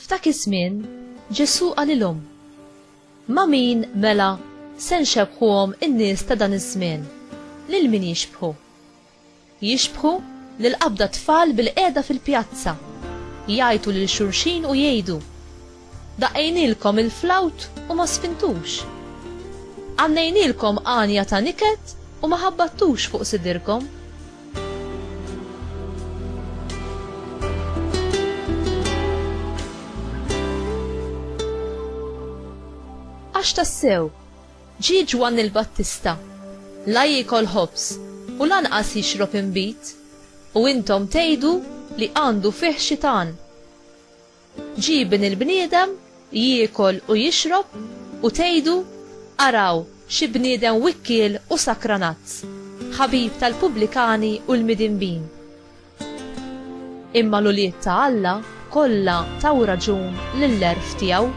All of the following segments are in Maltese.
F'dak iż-żmien Ġesù qalilhom, Ma' min mela se nxebbħuhom in-nies ta' dan iż-żmien? Lil min jixbħu? Jixbħu lil qabda tfal bilqiegħda fil-pjazza, jgħajtu lil xulxin u jgħidu, Daqqejnielkom il-flawt u ma sfintux. Għannejnielkom għanja ta' niket u ma ħabbattux fuq sidirkom. Għax tassew, Ġie Ġwanni l-Battista, La jiekol ħobż, u lanqas jixrob inbid, u intom tgħidu li għandu fih xitan. Ġie Ibn il-bniedem, jiekol u jixrob, u tgħidu, 'Araw, xi bniedem wikkiel u sakranazz, ħabib tal-pubblikani u l-midinbin! Imma l-ulied ta' Alla kollha taw raġun lill-għerf tiegħu.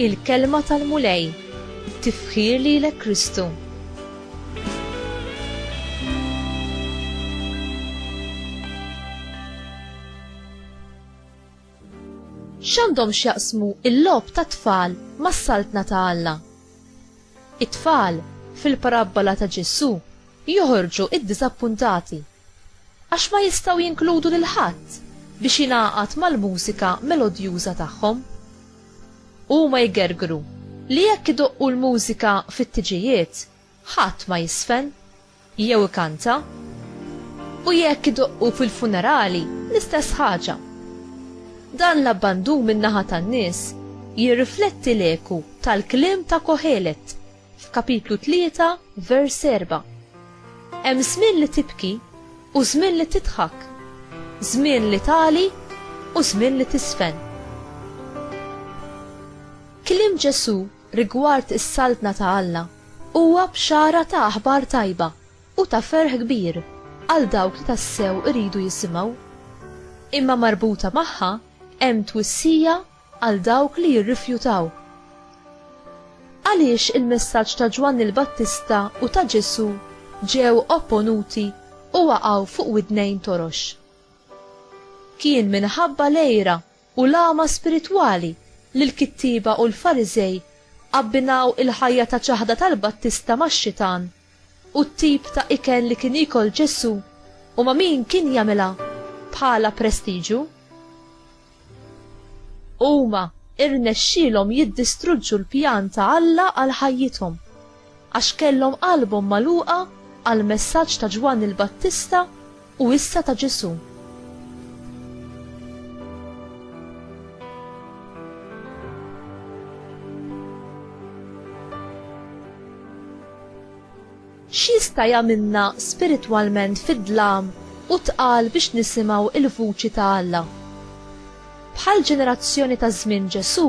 Il-Kelma tal-Mulej, Tifħir lilek Kristu. X'għandhom x'jaqsmu l-logħob tat-tfal mas-Saltna ta' Alla? It-tfal, fil-parabbola ta' Ġesù, joħorġu ddiżappuntati għax ma jistgħu jinkludu lil ħadd biex jingħaqad mal-mużika melodjuża tagħhom. Huma jgergru li jekk idoqqu l-mużika fit-tiġijiet, Ħadd ma jiżfen, jew ikanta. U jekk idoqqu fil-funerali, l-istess ħaġa. Dan l-abbandun min-naħa tan-nies jirrifletti l-eku tal-kliem ta' Kohelet f'kapitlu tlieta vers erbgħa. Hemm żmien li tibki u żmien li tidħak, żmien li tagħli u żmien li tiżfen. Kliem Ġesù rigward is-Saltna ta' Alla huwa bxara ta' aħbar tajba u ta' ferħ kbir għal dawk li tassew iridu jisimgħu. Imma marbuta magħha hemm twissija għal dawk li jirrifjutaw. Għaliex il-messaġġ ta' Ġwanni l-Battista u ta' Ġesù ġew opponuti u waqgħu fuq widnejn torox? Kien minħabba l-għira u l-għama spiritwali li l-kittieba u l-Fariżej abbinaw il-ħajja ta' ċaħda tal-Battista max-xitan u t-tip ta' ikel li kien jiekol Ġesù u ma' min kien jagħmilha bħala prestiġu. Huma rnexxielhom jiddistruġġu l-pjan ta' Alla għal ħajjithom. Għax kellhom qalbhom magħluqa għall-messaġġ ta' Ġwanni l-Battista u issa ta' Ġesù. X'jista' jagħmilna spiritwalment fid-dlam u tqal biex nisimgħu l-vuċi ta' Alla? Bħall-ġenerazzjoni ta' żmien Ġesù,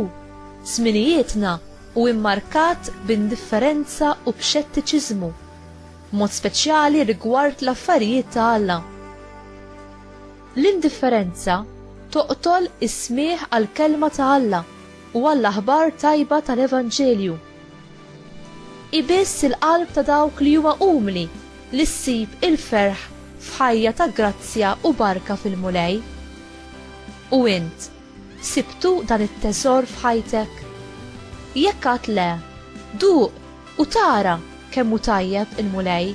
żminijietna u mmarkat b'indifferenza u b'xettiċiżmu, b'mod speċjali rigward l-affarijiet ta' Alla. L-indifferenza toqtol is-smigħ għall-kelma ta' Alla u għall-aħbar tajba tal-evanġelju. Hi biss il-qalb ta' dawk li huma umli li ssib il-ferħ f'ħajja ta' grazzja u barka fil-Mulej. U int? Sibtu dan it-teżor f'ħajtek? Jekk għad le, duq u tara kemm hu tajjeb il-Mulej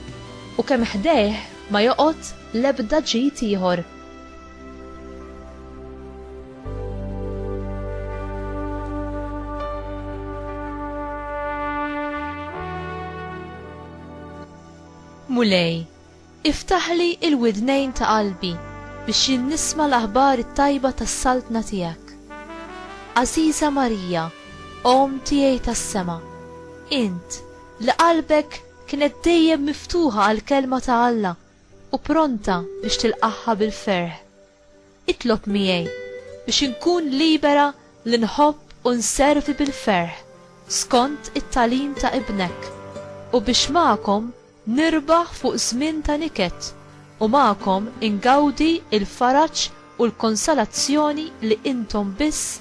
u kemm ħdejh ma joqgħod l-ebda ġid ieħor. Mulej, Iftaħli l-widnejn ta' qalbi biex jien nisma' l-aħbar it-tajba tas-Saltna tiegħek. Għażiża Marija, Omm tiegħi tas-sema, int, li qalbek kienet dejjem miftuħa għall-Kelma ta' Alla u pronta biex tilqagħha bil-ferħ, Itlob miegħi biex inkun libera li nħobb u nservi bil-ferħ skont it-tagħlim ta' Ibnek, u biex magħkom nirbaħ fuq żmien ta' niket u magħkom ingawdi l-faraġ u l-konsolazzjoni li intom biss